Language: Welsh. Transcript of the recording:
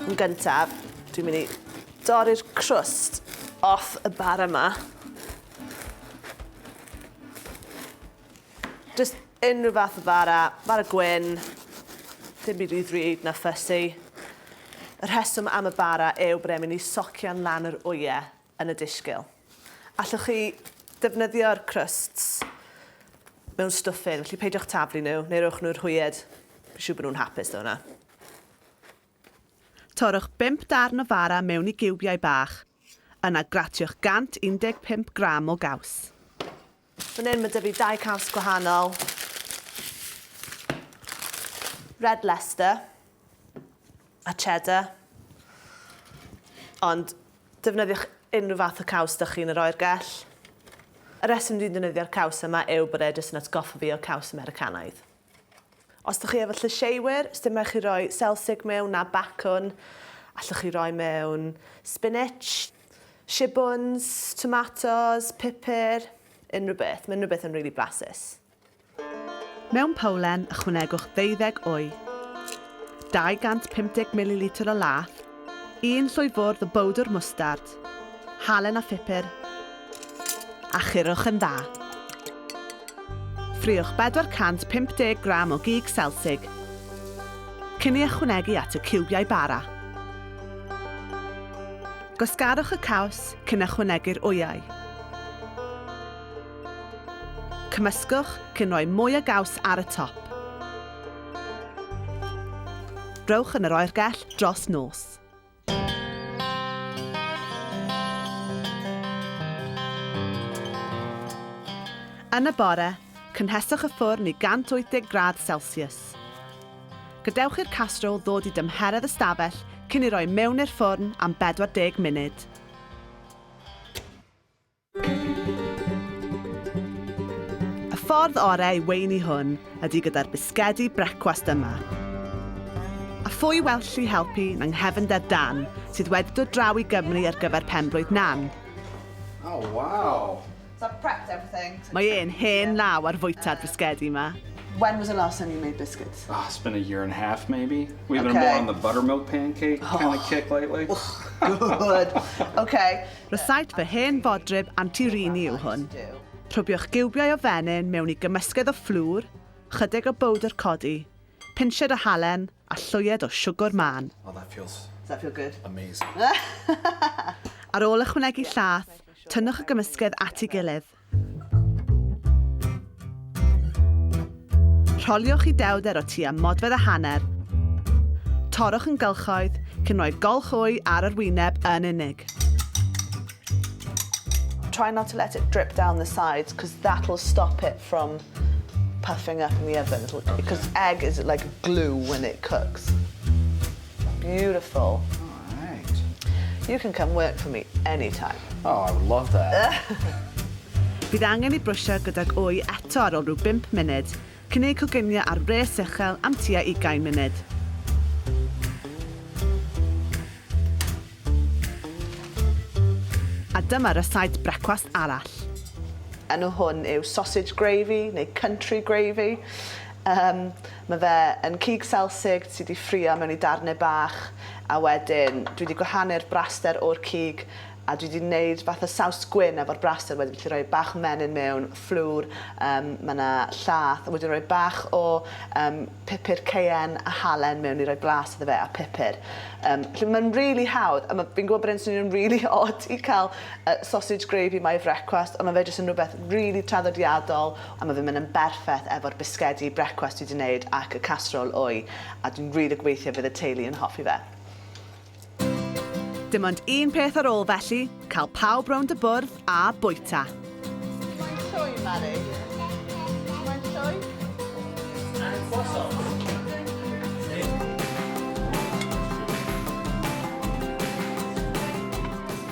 Yn gyntaf, dwi'n mynd i dorri'r crwst off y bara yma. Just unrhyw fath o bara, bara gwyn, dim byd rhy ddrud na fussy. Y rheswm am y bara yw bod e'n mynd i socian lan yr wyau yn y disgyl. Allwch chi ddefnyddio'r crusts mewn stwffyn, felly peidiwch taflu nhw, neu rowch nhw'r hwyed. Fi'n siŵr bod nhw'n hapus ddo hwnna. Torrwch 5 darn o fara mewn i giwbiau bach. Yna gratiwch 115 gram o gaws. Fan hyn ma' 'da fi dau cas gwahanol. Red Leicester a Cheddar. Ond defnyddiwch unrhyw fath o caws 'da chi'n yr oergell. Y reswm dwi'n defnyddio'r caws yma yw bod e jyst yn atgoffa fi o caws Americanaidd. Os dych chi efo llysieuwyr, sdim rhaid chi roi selsig mewn na bacwn. Allwch chi roi mewn spinach, shibwns, tomatos, pupur, unrhyw beth. Mae unrhyw beth yn rili blasus. Mewn powlen, ychwanegwch ddeuddeg wy, 250 mililitr o laeth, Un llwy fwrdd o bowdwr mwstard, halen a phupur, a churwch yn dda. Ffriwch 450 gram o gig selsig, cyn ei ychwanegu at y ciwbiau bara. Gwasgarwch y caws cyn ychwanegu'r wyau. Cymysgwch cyn rhoi mwy o gaws ar y top. Rhowch yn yr oergell dros nos. Yn y bore, cynheswch y ffwrn i 180 gradd Celsius. Gadewch i'r castrol ddod i dymheredd ystafell cyn ei roi mewn i'r ffwrn am 40 munud. Y ffordd orau i weini hwn ydy gyda'r bisgedi brecwast yma. A phwy well lli helpu na nghefnder Dan, sydd wedi dod draw i Gymru ar gyfer penblwydd Nan. Oh wow! So I've prepped everything. Mae e'n hen law ar fwyta'r bisgedi yma. When was the last time you made biscuits? Ah, it's been a year and a half maybe. We've been more on the buttermilk pancake kind of kick lately. Good! Okay. Rysáit fy hen fodryb anti-rheiny yw hwn. Rhwbiwch giwbiau o fenyn mewn i gymysgedd o fflwr, chydig o bowdr codi, pinched o halen a llwyed o siwgwr mân. Oh that feels Does that feel good? amazing. Ar ôl ychwanegu llath, tynnwch y gymysgedd at ei gilydd. Rholiwch i dewder o tua modfedd a hanner. Torrwch yn gylchoedd, cyn rhoi golch wy ar yr wyneb yn unig. Try not to let it drip down the sides because that will stop it from puffing up in the oven because egg is like glue when it cooks. Beautiful. Alright. You can come work for me any time. Oh, I would love that. Bydd angen i brwsio gydag wy eto ar ol rhyw bump munud, cyn eu coginio ar wres uchel am tua ugain munud. A dyma rysaid brecwast arall. Enw hwn yw sausage gravy neu country gravy. Um, Mae fe yn cig selsig sy 'di ffrio mewn i darnau bach a wedyn dwi 'di gwahanu'r braster o'r cig a dwi 'di neud fath o saws gwin efo'r braster wedyn felly rhoi bach o menyn mewn, fflwr, yym ma' 'na llath a wedyn rhoi bach o yym pupur cayenne a halen mewn i roi blas iddo fe a pupur. Yym felly mae'n rili hawdd a ma' fi'n gwybod bod e'n swnio'n rili od i cael yy sausage gravy my frecwast ond ma' fe jyst yn rhywbeth rili traddodiadol A ma fe'n mynd yn berffeth efo'r bisgedi brecwast dwi 'di neud ac y casserole wy, a dwi'n rili gobeithio bydd y teulu yn hoffi fe. Dim ond un peth ar ôl felly, cael pawb rownd y bwrdd a bwyta. Mae'n llwy, Mari. Mae'n llwy. And croissants.